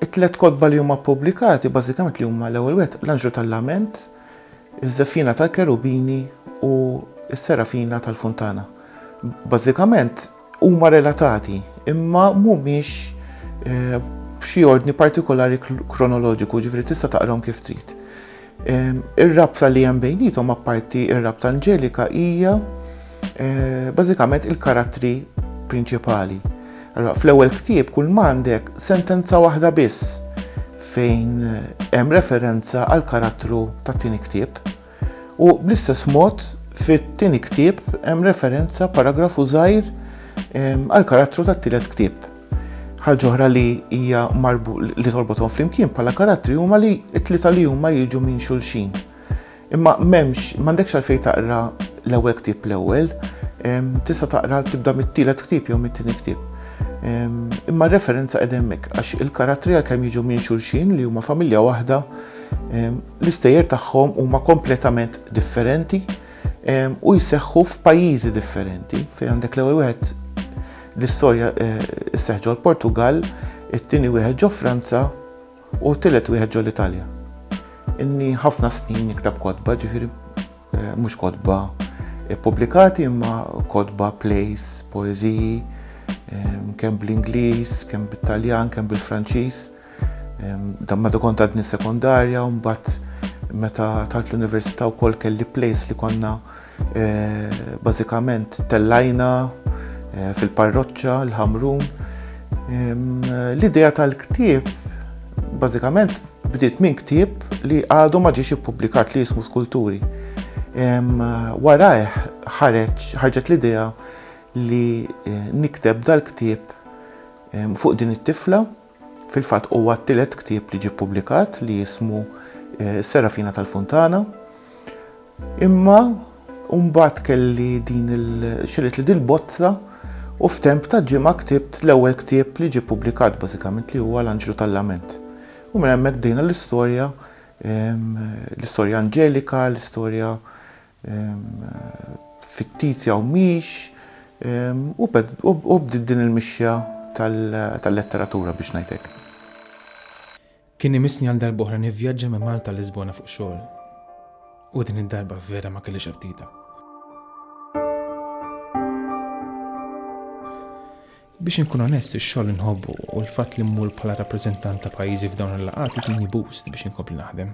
It-tliet kotba li huma ppubblikati bażikament li huma l-ewwel wieħed l-Anġlu tal-Lament, iż-Żefina tal-Kerubini u s-Serafina tal-Funtana. Bażikament huma relatati imma mhumiex f'xi ordni partikolari kronoloġiku, jiġifieri tista' taqrahom kif trid. Ir-rabta li hemm bejnietom apparti ir-rabta Anġelika hija eh, bażikament il-karattri prinċipali. Allora, fl-ewwel ktieb kull m'għandek sentenza waħda biss fejn eh, hemm referenza għal karattru tat-tieni ktieb. U bl-istess mod fit-tieni ktieb hemm referenza paragrafu żgħir eh, għal karattru tat-tielet ktieb. Ħaġa oħra li hija marbu li torbothom flimkien bħala karattri huma li t-tlieta li huma jiġu minn xulxin. Imma m'hemmx m'għandekx għalfejn taqra l-ewwel ktieb l-ewwel, tista' taqra tibda mit-tielet ktieb jew mit-tieni ktieb. Imma r-referenza qed hemmhekk għax il-karattri għalkemm jiġu minn xulxin li huma familja waħda, l-istejjer tagħhom huma kompletament differenti u jseħħu f'pajjiżi differenti fejn għandek l-ewwel wieħed L-istorja sseħħ ġol-Portugall, it-tieni wieħed ġo Franza u t-tielet wieħed ġol-Italja. Inni ħafna snin niktab kotba, ġifieri mhux kotba ppubblikati imma kotba, plays, poeżiji, kemm bl-Ingliż, kemm bit-Taljan, kemm bil-Franċiż. Dan meta kont għadni sekondarja, mbagħad meta talt l-università wkoll kelli place li konna eh, bażikament tellajna eh, fil-parroċċa l-ħamrun. L-idea tal-ktieb bażikament bdiet minn ktieb li għadu ma ġiex ippubblikat li jismu skulturi. Warajh ħareġ ħarġet l-idea li eh, nikteb dal-ktieb fuq din it-tifla Fil-fatt huwa t-tielet ktieb li ġie ppubblikat li jismu Is-Serafina tal-Funtana. Imma mbagħad kelli din il xerit li dil-bozza u f'temp ta' ġimgħa ktibt l-ewwel ktieb li ġie ppubblikat bażikament li huwa L-Anġlu tal-Lament. U minn hemmhekk bdejna l-istorja, l-istorja Anġelika, l-istorja fittizja u mhix, u bdiet din il-mixja tal-letteratura biex ngħid hekk. Kien imissni għal darb'oħra nivvjaġġa minn Malta għal Lisbona fuq xogħol. U din id-darba vera ma kellix apptita. Biex inkun onest, ix-xogħol inħobbu u l-fatt li mmur bħala rappreżentant ta' pajjiżi f'dawn il-laqgħat itini boost biex inkompli naħdem.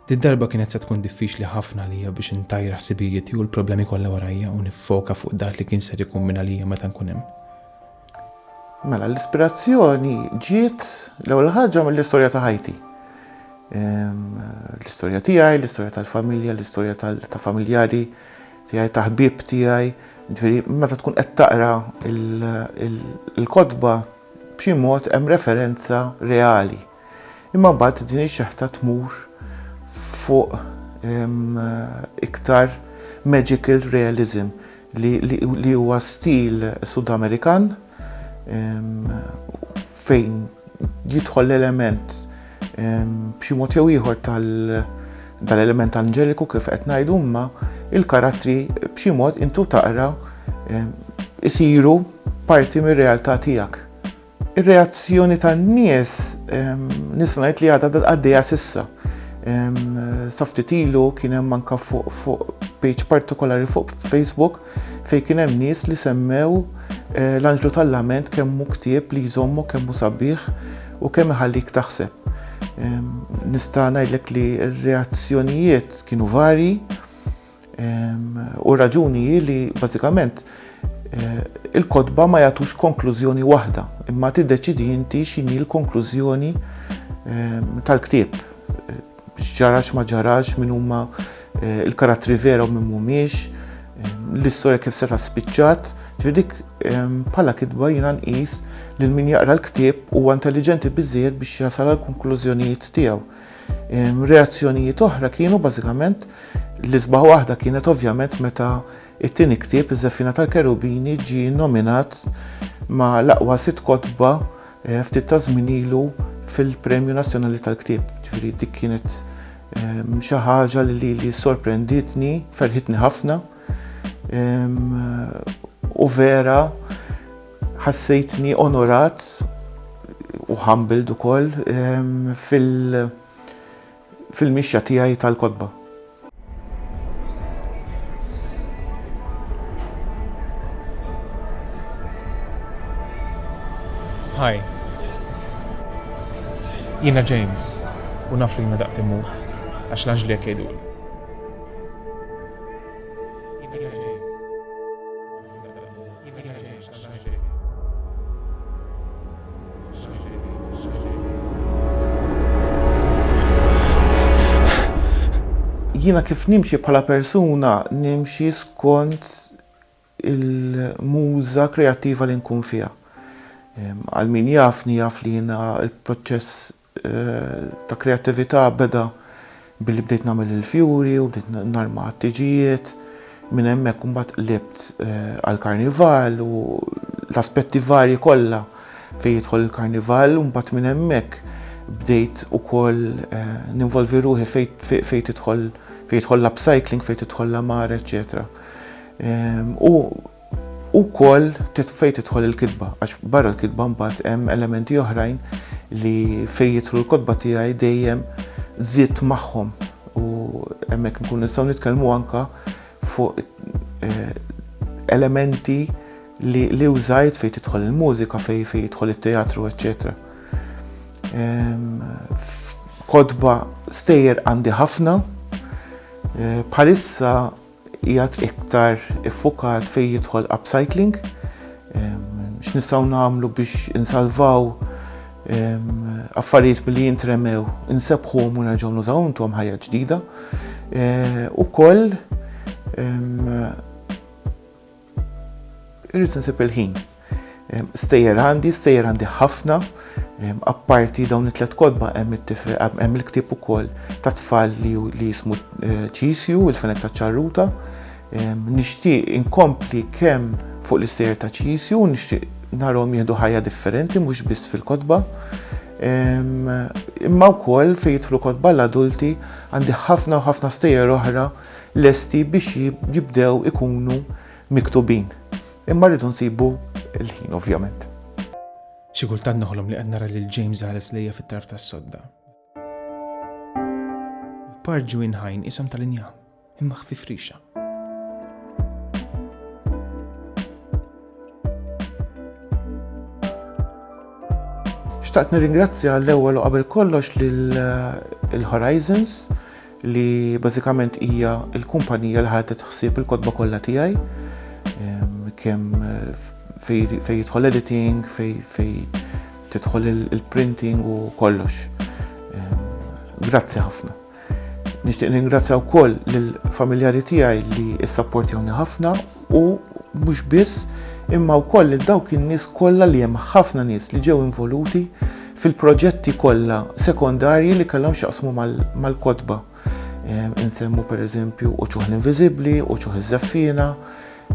Did-darba kienet se tkun diffiċli ħafna lija biex intajra ħsibijieti u l-problemi kollha warajja u niffoka fuq dak li kien ser ikun minn għalija meta nkun hemm. Mela, l-ispirazzjoni ġiet l-ewwel ħaġa mill-istorja ta' ħajti. Ehm, l-istorja tiegħi, l-istorja tal-familja, l-istorja ta' familjari tiegħi, ta' ħbieb tiegħi. Ġifieri, meta tkun qed taqra il-kotba b'xi mod hemm referenza reali Imma mbagħad din ix-xeħta tmur fuq iktar magical realism li huwa stil Sudamerikan fejn jidħol l-element b'xi mod jew ieħor tal dal-element anġeliku kif qed ngħidu imma il-karattri b'xi mod intu taqra isiru parti mir-realtà tiegħek. Ir-reazzjoni tan-nies nista' ngħid li għadha għaddejja s'issa. Sa ftit ilu kien hemm anke fuq page partikolari fuq Facebook fejn kien hemm nies li semmew eh, l-anġlu tal-lament kemm hu ktieb li jżommu kemm hu sabiħ u kemm iħallik taħseb. Nista' ngħidlek li r-reazzjonijiet kienu varji, U raġuni hi li bażikament eh, il-kotba ma jagħtux konklużjoni waħda, imma tiddeċidi inti x'inhi l-konklużjoni tal-ktieb. Eh, x'ġarax ma ġarax, min huma eh, il-karattri vera u min mhumiex, l-istorja kif seta' spiċċat, ġridik bħala kitba jina nqis li min jaqra l-ktieb huwa intelligenti biżżejjed biex jasal għal konklużjonijiet tiegħu. Reazzjonijiet oħra kienu bażikament l-isbaħ waħda kienet ovvjament meta it-tieni ktieb iż-Żeffina tal-Kerubini ġie nominat ma' l-aqwa sitt kotba eh, ftit ta' żmien ilu fil-Premju Nazzjonali tal-Ktieb. Ġifieri dik kienet ehm, xi ħaġa li li li sorprenditni, ferħitni ħafna ehm, u vera Ħassejtni onorat u humbled ukoll fil-mixja tiegħi tal-kotba. Hi. Jiena James u naf li jiena daqt immut għax l-anġli hekk jgħiduli. Jiena kif nimxi bħala persuna, nimxi skont il-muża kreattiva li nkun fiha. Għal min jafni jaf li jiena l-proċess ta' kreattività beda billi bdejt nagħmel il-fjuri u bdejt narma għat-tiġijiet. Minn hemmhekk imbagħad qlibt għall-karnival u l-aspetti varji kollha fejn jidħol il-karnival u mbagħad minn hemmhekk bdejt ukoll ninvolvi ruħi fejn tidħol fejn jidħol l-upcycling, fejn tidħol l-għamara, eċċetera. U Ukoll fejn tidħol il-kitba, għax barra l-kitba mbagħad hemm elementi oħrajn li fejn jidħlu l-kotba tiegħi dejjem żied magħhom u hemmhekk nkun nistgħu nitkellmu anke fuq eh, elementi li, li użajt fejn tidħol il-mużika, fejn fejn jidħol it-teatru, eċċetera. Ehm, kodba stejjer għandi ħafna, eh, bħalissa qiegħed iktar iffukat fejn jidħol upcycling, x'nistgħu nagħmlu biex insalvaw affarijiet billi jintremew, insebħuhom u nerġgħu nużawhom tuhom ħajja ġdida. Ukoll Irrid insib il-ħin. Stejjer għandi, stejjer għandi ħafna, apparti dawn it-tlet kodba hemm il-ktieb ukoll ta' tfal li jismu eh, ċisju, il-fenek ta' ċarruta. Nixtieq inkompli kemm fuq l-istejjer ta' ċisju, nixtieq narhom jieħdu ħajja differenti mhux biss fil-kodba. Imma wkoll fejn jidħlu kodba l-adulti għandi ħafna u ħafna stejjer oħra lesti biex jibdew ikunu miktubin. Imma rridu nsibu l-ħin ovvjament. Xi kultant noħlom li qed nara lil James ħares lejja fit-tarf tas-sodda. Parġu inħajn isom tal-inja, imma ħfif rixa. Xtaqt nirringrazzja l-ewwel u qabel kollox lil eh, Horizons li bażikament hija l-kumpanija li ħadet ħsieb il-kotba kollha tiegħi kemm fejn jidħol editing, fejn tidħol il-printing u kollox. Grazzi ħafna. Nixtieq ningrazzja wkoll lill-familjari tiegħi li issapportjawni ħafna u mhux biss imma wkoll lil dawk in-nies kollha li hemm ħafna nies li ġew involuti fil-proġetti kollha sekondarji li kellhom x'jaqsmu mal-kotba. Ehm, insemmu pereżempju Uċuħ l-Inviżibbli, Uċuħ iż-Żeffiena,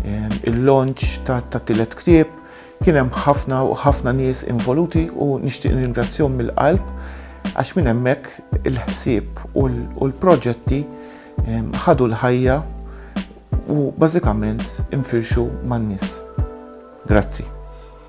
ehm, il-launch ta' tielet ktieb, kien hemm ħafna ħafna nies involuti u nixtieq ningrazzjahom mill-qalb għax minn hemmhekk il-ħsieb u l-proġetti ehm, ħadu l-ħajja u bażikament infirxu man-nies. Grazzi.